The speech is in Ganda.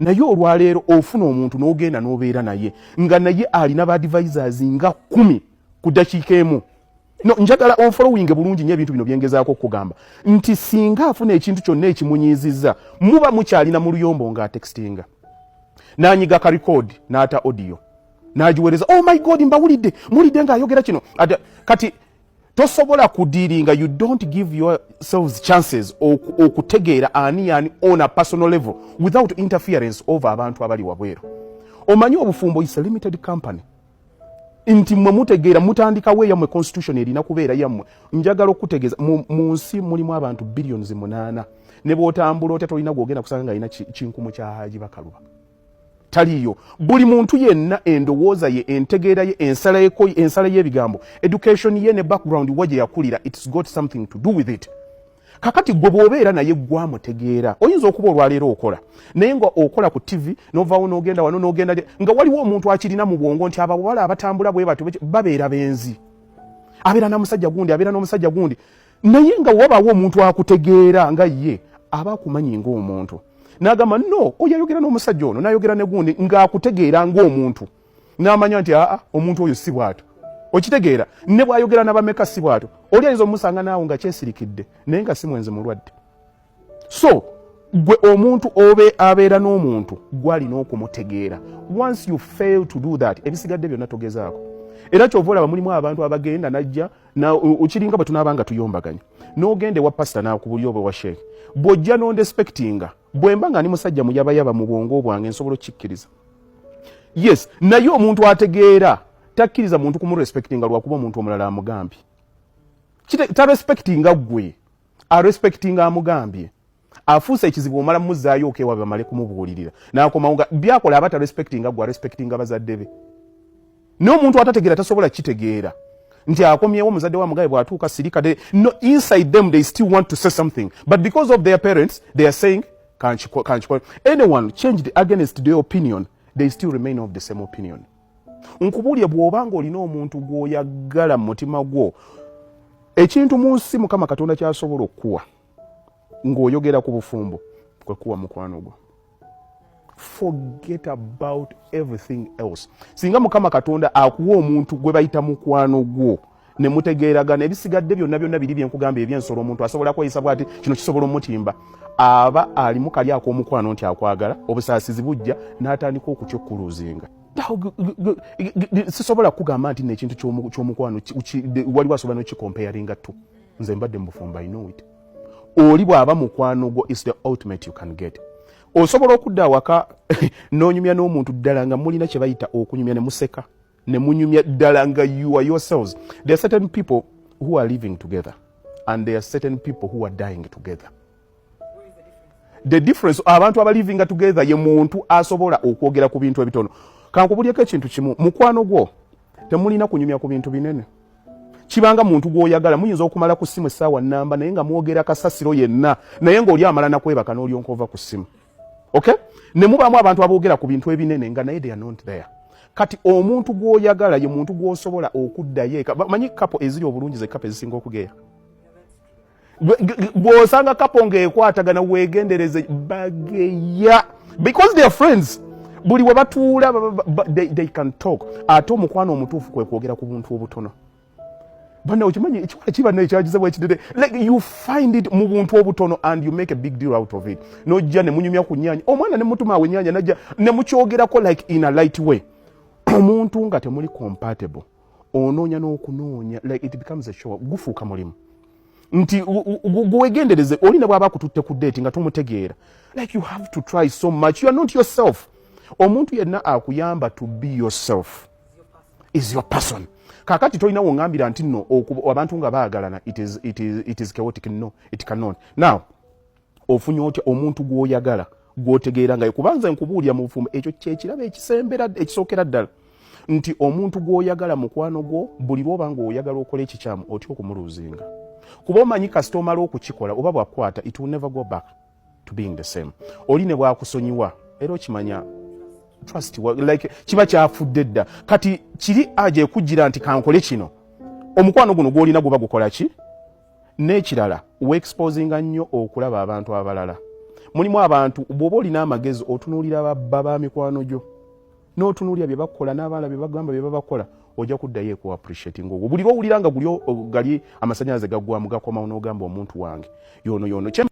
naye olwaleero ofuna omuntu n'ogenda n'obeera naye nga naye alina baadvisors nga kumi ku dakiika emu no njagala onfolowinge bulungi nyo ebintu bino byengezaako okugamba nti singa afuna ekintu kyonna ekimunyiiziza muba mukyalina mu luyombo nga atextinga nanyiga ka record n'ata audio nagiwereza oh my god mbawulidde muwulidde ng'ayogera kino kati tosobola kudiringa you don't give yourselves chances okutegeera ani yani on a personal level without interference over abantu abali wabweru omanyi obufumbo is a limited company nti mwe mutegeera mutandikawo eyamwe constitution erina kubeera yammwe njagala okutegeeza mu nsi mulimu abantu billions munaana ne bwotambula otya tolina gwogenda kusanga nga alina kinkumu kya haji bakaluba taliyo buli muntu yenna endowooza ye entegeera ye ensala yeko ensala y'ebigambo education ye ne background wa gye yakulira its got something to do with it kakati gwe bw'obeera naye gwamutegeera oyinza okuba olwaleero okola naye nga okola ku ttivi novawo n'ogenda wano n'ogenda nga waliwo omuntu akirina mu bwongo nti abawala abatambula bwe batyo babeera benzi abeera namusajja gundi abeera n'omusajja gundi naye nga wabaawo omuntu akutegeera nga ye aba akumanyi ngaomuntu nagamba no oyo ayogera n'omusajja ono nayogera negundi ngaakutegeera ngaomuntu namanya nti aa omuntu oyo si bwato okitegeera ne bwayogera nabameka si bwato oli ayinza omusanga naawo nga kyesirikidde naye nga si mwenzi mulwadde so gwe omuntu obe abeera n'omuntu gwalina okumutegeera once you fail to do that ebisigadde byonna togezaako era kyova olaba mulimu abantu abagenda najja okiringa bwe tunaaba nga tuyombaganya n'ogenda ewa pasita nakubuli oba ewa sheeke bw'ojja nondespektinga bwe mba nga ndi musajja muyabayaba mu bwongo bwange nsobola okukikkiriza yes naye omuntu ategeera takkiriza muntu kumurespektinga lwakuba omuntu omulala amugambye tarespektinga gwe arespectinga amugambye afuuse ekizibu omala mumuzaayo okewa bamale kumubuulirira nakomawo nga byakola aba tarespectinga gwe arespectinga bazadde be naye omuntu atategeera tasobola kitegeera nti akomyewo omuzadde wa mugabe bwatuuka sirika no inside them they still want to say something but because of their parents they are saying kanchikole anyone changed against their opinion they still remain of the same opinion nkubuulire bw'oba ng'olina omuntu gw'oyagala mu mutima gwo ekintu mu nsi mukama katonda kyasobola okukuwa ng'oyogera ku bufumbo kwe kuwa mukwano gwo forget about everything else singa mukama katonda akuwa omuntu gwe bayita mukwano gwo ne mutegeeragana ebisigadde byonna byonna biri bye nkugamba eby'ensolo omuntu asobola kweyisa bwati kino kisobola omutimba aba alimu kali ak'omukwano nti akwagala obusaasizi bujja n'atandika okutya okukuluuzinga sisobola kukugamba nti nekintu kyomukwano waliwo asobola nokikompeyaringa tu nze mbadde mubufumba inowit oli bwaba mukwano gwo is the ultimate you can get osobola okudda awaka nonyumya n'omuntu ddala nga mulina kyebayita okunyumya ne museka ne munyumya ddala nga you are yourselves there are certain people who are living together and there are certain people who are dying together the difference abantu abalivinga together ye muntu asobola okwogera ku bintu ebitono kankubulyeko ekintu kimu mukwano gwo temulina kunyumya ku bintu binene kibanga muntu gwoyagala muyinza okumala ku simu esaawa namba naye nga mwogera kasasiro yenna naye ngaoli amala nakwebaka nolyonkova ku simu okay ne mubaamu abantu aboogera ku bintu ebinene nga naye they are not there kati omuntu gwoyagala ye muntu gwosobola okuddayo eka manyi kapo eziri obulungi ze kapo ezisinga okugeya bwosanga kapo ngaekwatagana wegendereze bageya because their friends buli webatuula they can talk ate omukwano omutuufu kwekwogera ku buntu obutono bana okimanyi ekiwala kiba naye kyagiza bwekidede like you find it mu buntu obutono and you make a big deal out of it nojja ne munyumya ku nyanya omwana ne mutuma awe nyanya najja ne mukyogerako like in a light way omuntu nga temuli compatible onoonya n'okunoonya like it becomes a show gufuuka mulimu nti gwegendereze oli ne bwaba akututte ku date nga tumutegeera like you have to try so much you are not yourself omuntu yenna akuyamba to be yourself is your person kakati tolina wongambira nti no abantu nga baagalana it is, it is, it is chaotic no it cannot now ofunye otya omuntu gwoyagala gwotegeera ngayo kubanza nkubuulira mu bufumbo ekyo kyekirabo ekisembera ekisookera ddala nti omuntu gwoyagala mukwano gwo buli lwoba nga oyagala okola ekikyamu otya okumuluuzinga kuba omanyi kasita omala okukikola oba bwakukwata it will never go back to being the same oli ne bwakusonyiwa era okimanya trust like kiba kyafudde dda kati kiri aja ekujjira nti kankole kino omukwano guno gwolina guba gukola ki n'ekirala weexposinga nnyo okulaba abantu abalala mulimu abantu bwoba olina amagezi otunuulira babba ba mikwano gyo n'otunuulira bye bakola n'abaala bye bagamba bye babakola ojja kuddayo eku appreciating ogwo buli lwowulira nga guli gali amasanyalaze gaggwamu gakomawo n'ogamba omuntu wange yono yono